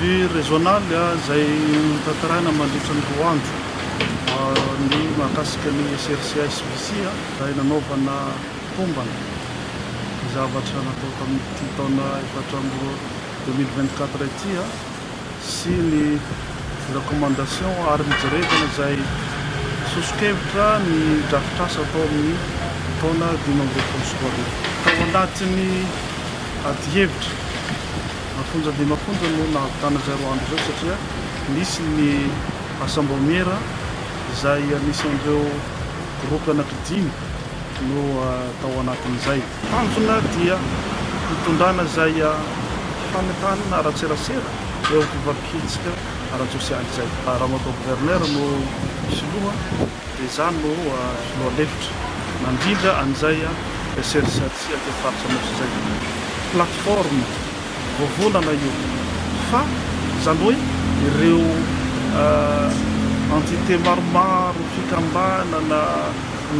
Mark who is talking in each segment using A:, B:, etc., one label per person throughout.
A: Ny régional izay hotantaràna mandritra ny roa andro ny mahakasika ny SRCSBC izay nanaovana tombana ny zavatra natao tamin'ity taona efatra amby roapolo, deux mille vingt-quatre, ity. sy ny recommandation ary mijerevana izay soso-kevitra ny drafitr'asa tao amin'ny taona dimy ambin'ny folo sy roa arivo. Tao anatin'ny adihevitra afonja dia mafonja no nahavitana izay roa andro izay satria nisy ny asam-baomiera izay anisan'ireo gropy anaky dimy no tao anatin'izay. Tanjona dia hitondrana izay fanentanana ara-tserasera eo amin'ny fivadin-kevitsika ara-tsosialy izay. Ramatoa Gouverneur no Filoha dia izaho no Filoha lefitra mandrindra an'izay serisiarisia aty amin'ny Faritra Anosy izay. Plateforme vovonana io fa izany hoe ireo entité maromaro, fikambanana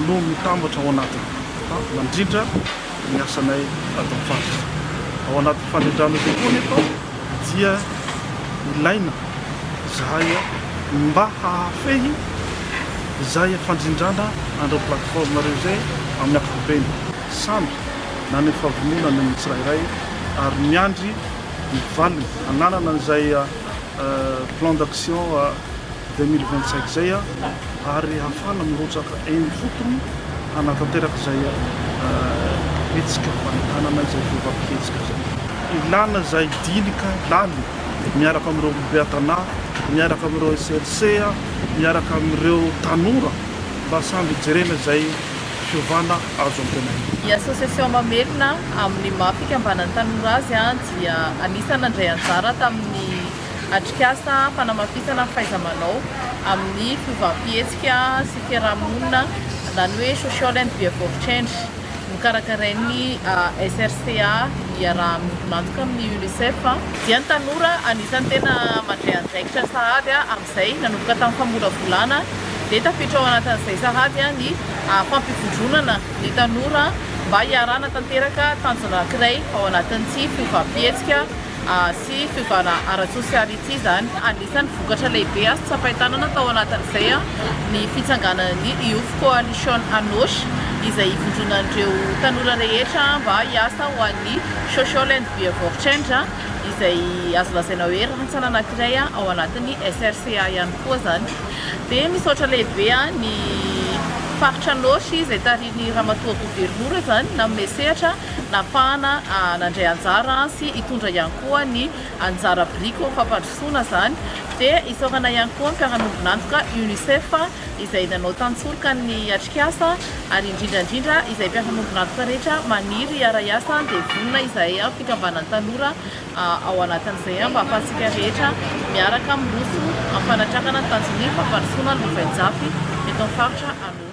A: no mitambatra ao anatiny. fa mandrindra ny asanay ato amin'ny faritra. Ao anatin'ny fandrindrana io koa anefa dia ilaina izahay mba hahafehy izay fandrindrana an'ireo plateforme ireo izay amin'ny ankapobeny. Samy naneho fahavononana ny tsirairay ary miandry ny valiny. Ananana izay plan d'action deux mille vingt cinq izay. ary hahafahana mirotsaka eny ifotony hanatanteraka izay hetsika fanohanana izay fiovàm-pihetsika izay. Ilàna izay dinika lany miaraka amin'ireo beatanà, miaraka amin'ireo SRC, miaraka amin'ireo tanora mba samy hijerena izay fiovàna azo antenaina. Ny Association
B: Mamelona amin'ny maha fikambanan'ny tanora azy dia anisan'ny nandray anjara tamin'ny. Atrikasa fanamafisana ny fahaiza-manao amin'ny fiovam-pihetsika sy fiarahamonina, izany hoe Social and Behaviour Change, nokarakarain'ny SRCA iaraha-miantoka amin'ny UNICEF, dia ny tanora anisan'ny tena mandray andraikitra sahady amin'izay, nanomboka tamin'ny famolavolana, dia tafiditra ao anatin'izay sahady ny fampivondronana ny tanora mba hiarahana tanteraka tanjona anankiray ao anatin'ity fiovam-pihetsika sy fiovana ara-tsosialy ity izany. Anisan'ny vokatra lehibe azo tsapain-tanana tao anatin'izay ny fitsanganan'ny Youth Coalition Anosy, izay ivondronan'ireo tanora rehetra mba hiasa ho an'ny Social and Behaviour Change, izay azo lazaina hoe rantsana anankiray ao anatin'ny SRCA ihany koa izany. Dia misaotra lehibe ahy ny faritra Anosy izay tarihin'ny Ramatoa Governora izany nanome sehatra. Napahana nandray anjara sy hitondra ihany koa ny anjara biriko amin'ny fampandrosoana izany dia isaorana ihany koa ny mpiara-miombon'antoka UNICEF izay nanao tantsoroka ny atrikasa ary indrindra indrindra izay mpiara-miombon'antoka rehetra maniry hiara-hiasa dia vonona izahay fikambanan'ny tanora ao anatin'izay mba hahafahantsika rehetra miaraka miroso amin'ny fanatrakana ny tanjon'ny fampandrosoana ny lovain-jafy eto amin'ny faritra Anôsy.